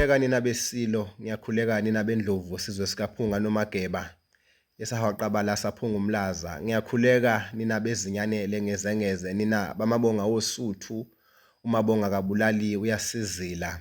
ngiyakhuleka nina besilo ngiyakhuleka nina bendlovu sizwe sikaphunga nomageba esahawaqabala saphunga umlaza ngiyakhuleka nina bezinyanele ngezengeze nina bamabonga wosuthu umabonga kabulali uyasizila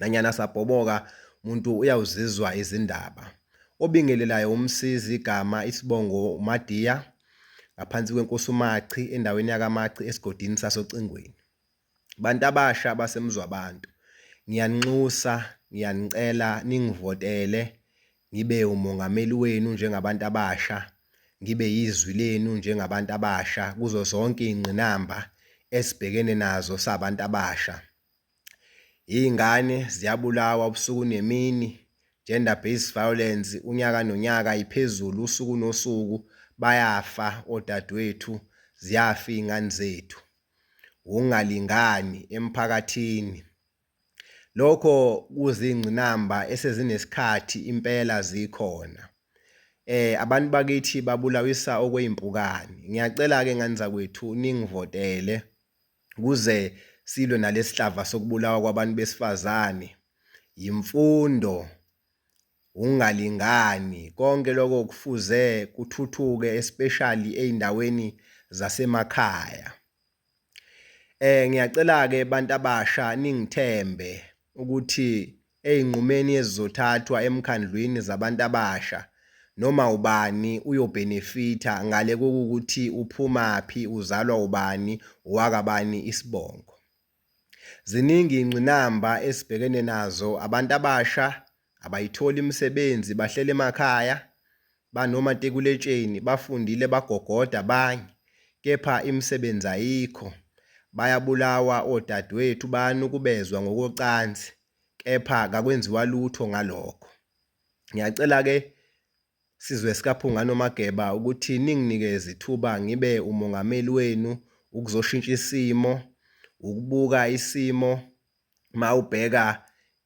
Nanyana sabhoboka, muntu uyawuzizwa izindaba. Obingelelayo umsizi igama isibongo uMadiya ngaphansi kwenkosi uMachi endaweni yakaMachi esigodini sasocingweni. Bantu abasha basemzwabantu ngiyaninxusa ngiyanicela ningivotele ngibe umongameli wenu njengabantu abasha ngibe yizwi lenu njengabantu abasha kuzo zonke iy'ngqinamba esibhekene nazo sabantu abasha. Iy'ngane ziyabulawa ubusuku nemini, gender based violence unyaka nonyaka iphezulu usuku nosuku bayafa odadewethu, ziyafa iy'ngane zethu. Ukungalingani emphakathini, lokho kuzingqinamba esezinesikhathi impela zikhona. Abantu bakithi babulawisa okweyimpukane, ngiyacela-ke ngane zakwethu ningivotele kuze silwe nalesihlava sokubulawa kwabantu besifazane yimfundo ungalingani konke lokho kufuze kuthuthuke especially eindaweni zasemakhaya eh ngiyacela ke abantu abasha ningithembe ukuthi Ezinqumeni ezizothathwa emkhandlwini zabantu abasha noma ubani uyobhenefitha ngale kokuthi uphumaphi, uzalwa ubani, owakabani isibongo. Ziningi izingqinamba esibhekene nazo, abantu abasha abayitholi imisebenzi, bahleli emakhaya, banomatikuletsheni bafundile bagogoda abanye kepha imisebenzi ayikho, bayabulawa odadewethu bayanukubezwa ngokocansi kepha kakwenziwa lutho ngalokho. Ngiyacela ke sizwe sikaPhunga noMageba ukuthi ninginikeze ithuba ngibe umongameli wenu ukuzoshintsha isimo, ukubuka isimo mawubheka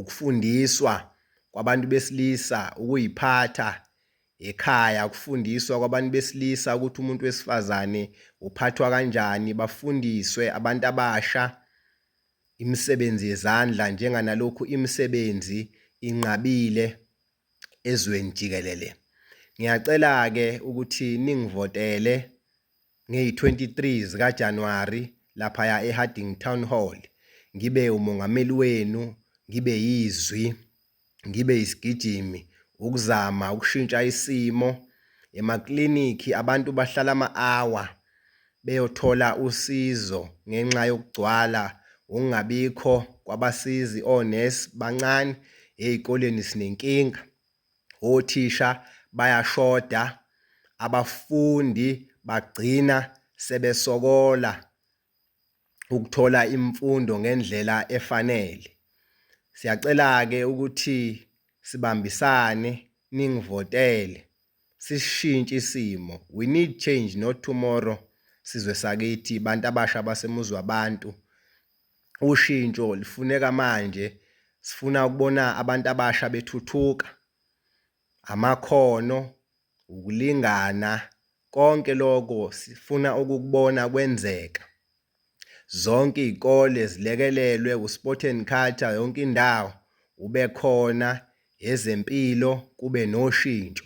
ukufundiswa kwabantu besilisa ukuyiphatha ekhaya, ukufundiswa kwabantu besilisa ukuthi umuntu wesifazane uphathwa kanjani, bafundiswe abantu abasha imisebenzi yezandla njenganalokhu imisebenzi inqabile. ezweni jikelele. Ngiyacela-ke ukuthi ningivotele ngeyi-23 zikaJanuwari laphaya eHarding Town Hall ngibe umongameli wenu, ngibe yizwi, ngibe isigijimi ukuzama ukushintsha isimo emaklinikhi abantu bahlala ama-hour beyothola usizo ngenxa yokugcwala wokungabikho kwabasizi onurse bancane ezikoleni sinenkinga othisha bayashoda abafundi bagcina sebesokola ukuthola imfundo ngendlela efanele. Siyacela-ke ukuthi sibambisane ningivotele sishintshe isimo. We need change not tomorrow sizwe sakithi bantu abasha basemuzwa abantu. Ushintsho lifuneka manje sifuna ukubona abantu abasha bethuthuka. amakhono, ukulingana, konke loko sifuna ukukubona kwenzeka. Zonke iy'kole zilekelelwe u-sport and culture yonke indawo ube khona, ezempilo kube noshintsho.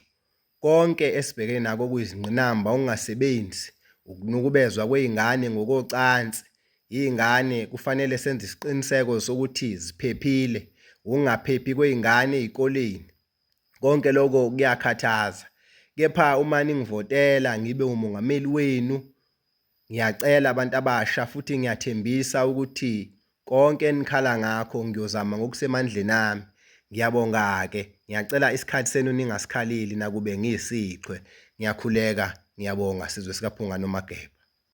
Konke esibhekene nako okuyizingqinamba, ukungasebenzi, ukunukubezwa kwey'ngane ngokocansi, Iy'ngane kufanele senze isiqiniseko sokuthi ziphephile, ukungaphephi kwey'ngane ey'koleni. Konke loko kuyakhathaza. Kepha uma ningivotela ngibe umongameli wenu, ngiyacela abantu abasha futhi ngiyathembisa ukuthi konke enikhala ngakho ngiyozama ngokusemandleni ami. Ngiyabonga-ke, ngiyacela isikhathi senu ningasikhaleli nakube ngiyisichwe. Ngiyakhuleka, ngiyabonga sizwe sikaPhunga noMageba.